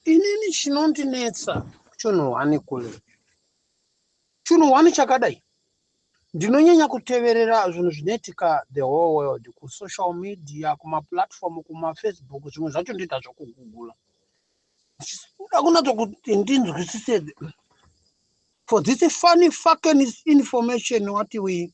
Inini chinondinetsa chunhu hwani kule. Chunhu hwani chakadai. Ndinonyanya kuteverera zvinhu zvinoitika the whole world kusocial media, kumaplatform, kumafacebook, zvimwe zvacho ndoita zvokugugula. Ndichida kunatso kuti ndinzwisise for this funny fucking information wati we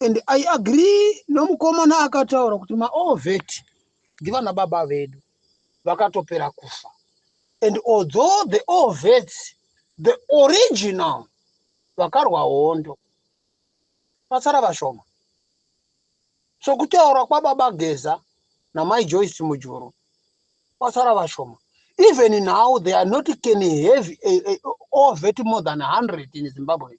and i agree nomukomana akataura kuti maovet ndivana baba vedu vakatopera kufa and although the ovets the original vakarwa hondo vasara vashoma so kutaura kwababa geza namai joyce mujuru vasara vashoma even now they are not can have a, a, a, ovet more than 100 in zimbabwe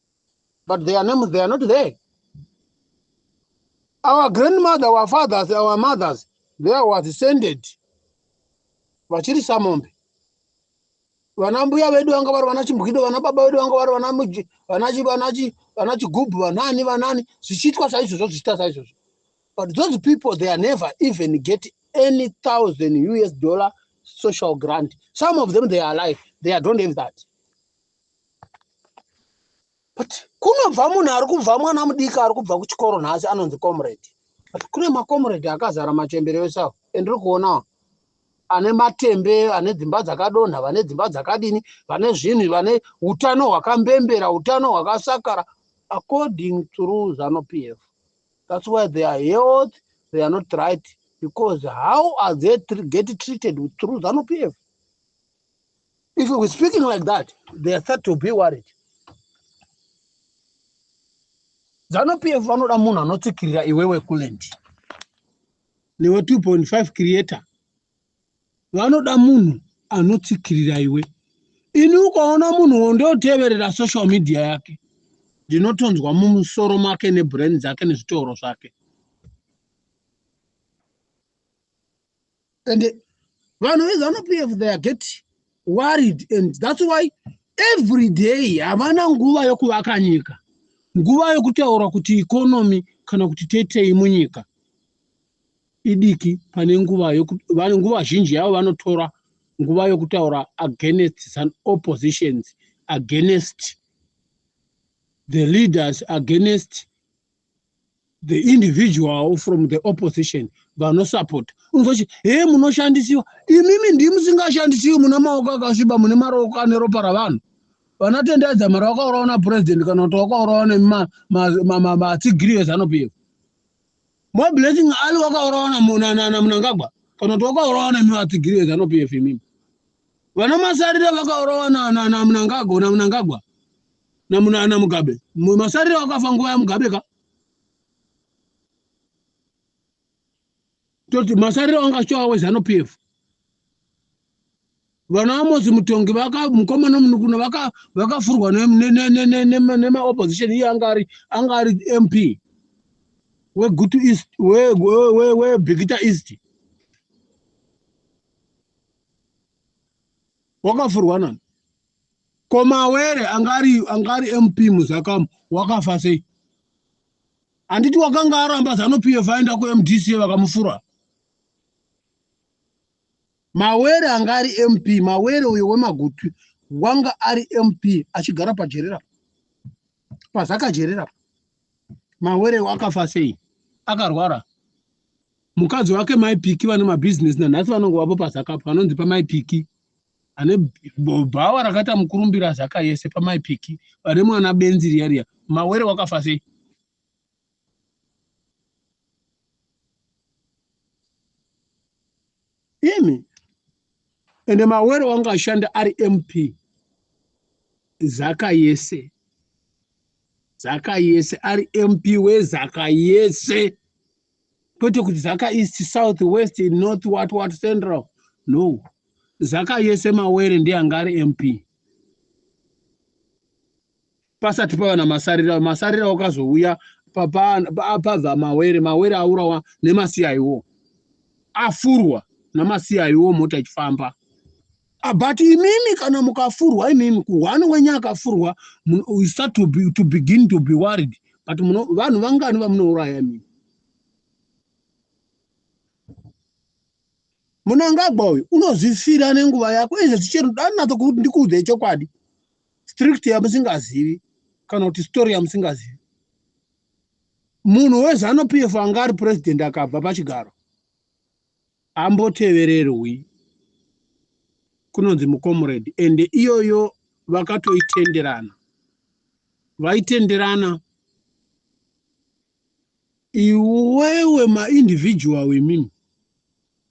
but their names they are not there our grandmother our fathers our mothers they were descended vachiri samombe vana mbuya vedu vanga vari vana chimbwido vana baba vedu vanga vari vana chigubhu vanani vanani zvichiitwa saizvozvo zvichiita saizvozvo but those people they are never even get any thousand us dollar social grant some of them they are alive they don't have that but kunobva munhu ari kubva mwana mudiki ari kubva kuchikoro nhasi anonzi comrade but kune macomrade akazara machembere ese avo andiri kuonawo ane matembe ane dzimba dzakadonha vane dzimba dzakadini vane zvinhu vane utano hwakambembera utano hwakasakara according through zanu p f that's why they are health they are not right because how are they get treated through zanu p f If we're speaking like that, they are start to be worried. ZanuPF vanoda munhu anotsikirira iwewe kuland newe 2.5 creator vanoda munhu anotsikirira iwe ini ukaona munhu wondoteverera social media yake ndinotonzwa mumusoro make nebrand dzake nezvitoro zvake and vanhu vese vanopf they get worried and thats why every day havana nguva yokuvaka nyika nguva yokutaura kuti ikonomi kana kuti tetei munyika idiki pane nguva vane nguva zhinji yavo vanotora nguva yokutaura against some oppositions against the leaders against the individual from the opposition vanosapota unzoti he munoshandisiwa imimi ndi musingashandisiwi mune maoko akasviba mune maroko ane ropa ravanhu vanatendedza mari wakaurawa napurezidendi kana kuti wakaurawa nematsigiriyo ezanupiyo more blessing ali wakaurawa namunangagwa kana kuti wakaurawa nemimatsigiriyo ezanupiyo imimi vana masarire vakaurawa namunangagwa namuna ana mugabe masariro akafa nguva yamugabe ka toti masariro anga achiwa wezano p f vana amosi mutongi mukoma nomunukuna vakafurwa nemaopposition iye anga ari anga ari mp wegutu east webhikita east wakafurwa nani Ko Mawere anga ari anga ari MP muZakamu wakafa sei? Handiti wakanga aramba Zanu PF aenda kuMDC vakamufura? Mawere anga ari MP, Mawere uyo wemagutu wanga ari MP achigara pajerera pazakajerera. Mawere wakafa sei? Akarwara. Mukadzi wake Mai Piki vane mabusiness nanhasi vanongovapo pazakapo vanonzi paMai Piki. ane bhawa rakaita mukurumbira zaka yese pamai piki vane mwana benzi riya riya mawere wakafa sei imi ende mawere wanga ashanda ari mp zaka yese zaka yese ari mp wezaka yese kwete kuti zaka east south west north what what central no zaka yese mawere ndeyanga ari mp pasati pava namasarira masarira wakazouya pabva mawere mawere aurawa nemasiyayiwo afurwa namasiyayiwo mota ichifamba Ah, but imimi kana mukafurwa imimi kuhwani wenye akafurwa you start to, be, to begin to be worried but vanhu vangani vamunouraya imimi munangagwa uyu unozvifira nenguva yako izvo zvichero danatso kuti ndikuudzei chokwadi strict yamusingazivi kana kuti story yamusingazivi munhu wezanu pf anga ari president akabva pachigaro ambotevererwi kunonzi mucomrade and iyoyo vakatoitenderana vaitenderana iwewe maindividual wemimi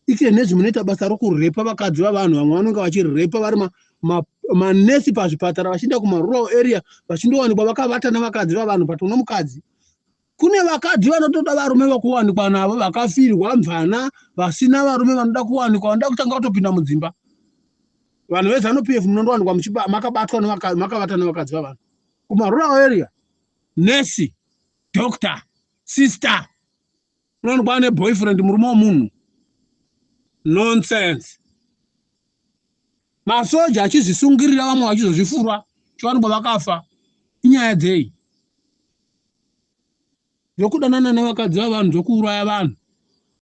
ite nezvi munoita basa rokurepa vakadzi vavanhu vamwe vanonge vachirepa vari manesi pazvipatara vachienda kumarural area vachindowanikwa vakavata navakadzi vavanhu but uno mukadzi Kune vakadzi vanotoda varume vakuwanikwa navo vakafirwa mvana vasina varume vanoda kuwanikwa vanoda kutanga kutopinda mudzimba vanhu vezanu pf munondowanikwa makabatwa makavata nevakadzi vavanhu kumarural area nurse doctor sister unowanikwa ane boyfriend murume wemunhu nonsense Masoja achizvisungirira vamwe vachizozvifurwa chiwanikwa vakafa. Inyaya dzei? Zvokudanana nevakadzi vavanhu zvokuuraya vanhu.